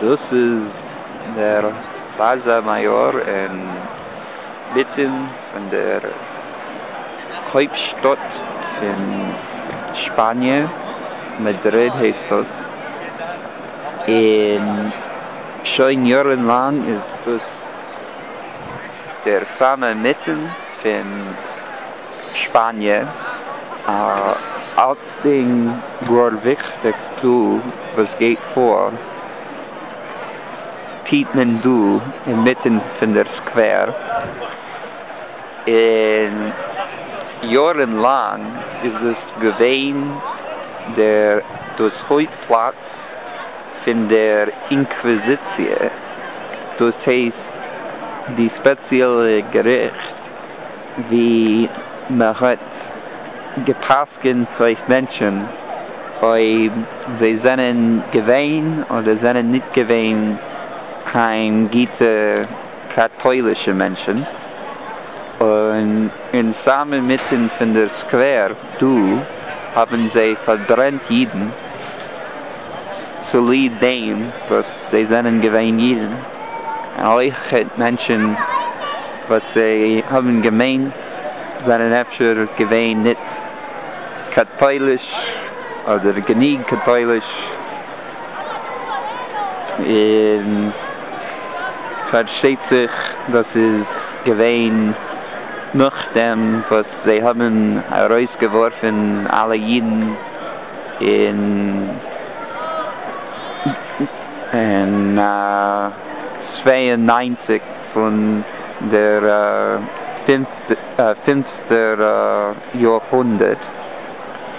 דאס איז דער פלאזא מאיאר אינמיטן פון דער הויפטשטאט פון שפאניע, מאדריד הייסט דאס. און שוין יארן לאנג איז דאס דער סאמע מיטן פון שפאניע, אלצדינג גאר וויכטיג דא וואס גייט פאר טוט מען דא אינמיטן פון דער סקווער, און יארן לאנג איז דאס געווען דער דאס הויפט פלאץ געזעץ פון דער אינקוויזיציע, דאס הייסט די ספעציעלע געריכט ווי מען האט גע'פסק'נט אויף מענטשן אויב זיי זענען געווען אדער זענען ניט געווען קיין גוטע קאטוילישע מענטשן, און אין סאמע מיטן פון דער סקווער דא האבן זיי פארברענט אידן צוליב דעם וואס זיי זענען געווען אידן, און אויך מענטשן וואס זיי האבן געמיינט זענען אפשר געווען ניט קאטויליש אדער גענוג קאטויליש. און פארשטייט זיך דאס איז געווען נאכדעם וואס זיי האבן ארויסגעווארפן אלע אידן אין צוויי און נײַנציק פון דער פינפטער יאר הונדערט.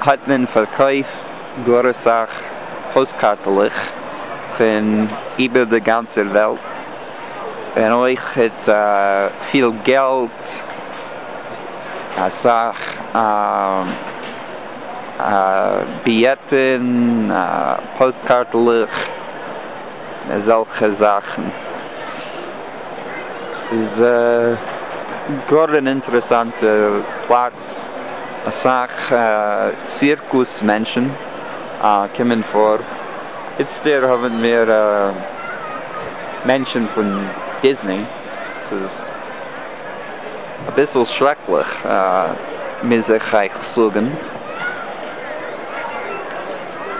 האט מען פארקויפט גאר אסאך פאסטקארטלעך פון איבער די גאנצע וועלט, און אויך פיל געלט, אסאך ביעטען, פאסטקארטלעך, אזעלכע זאכן, ס'איז גאר אן אינטערעסאנטע פלאץ. אסאך סירקוס מענטשן קומען פאר, איצטער האבן מיר מענטשן פון דיזני, ס'איז אביסל שרעקליך מוז איך אייך זאגן.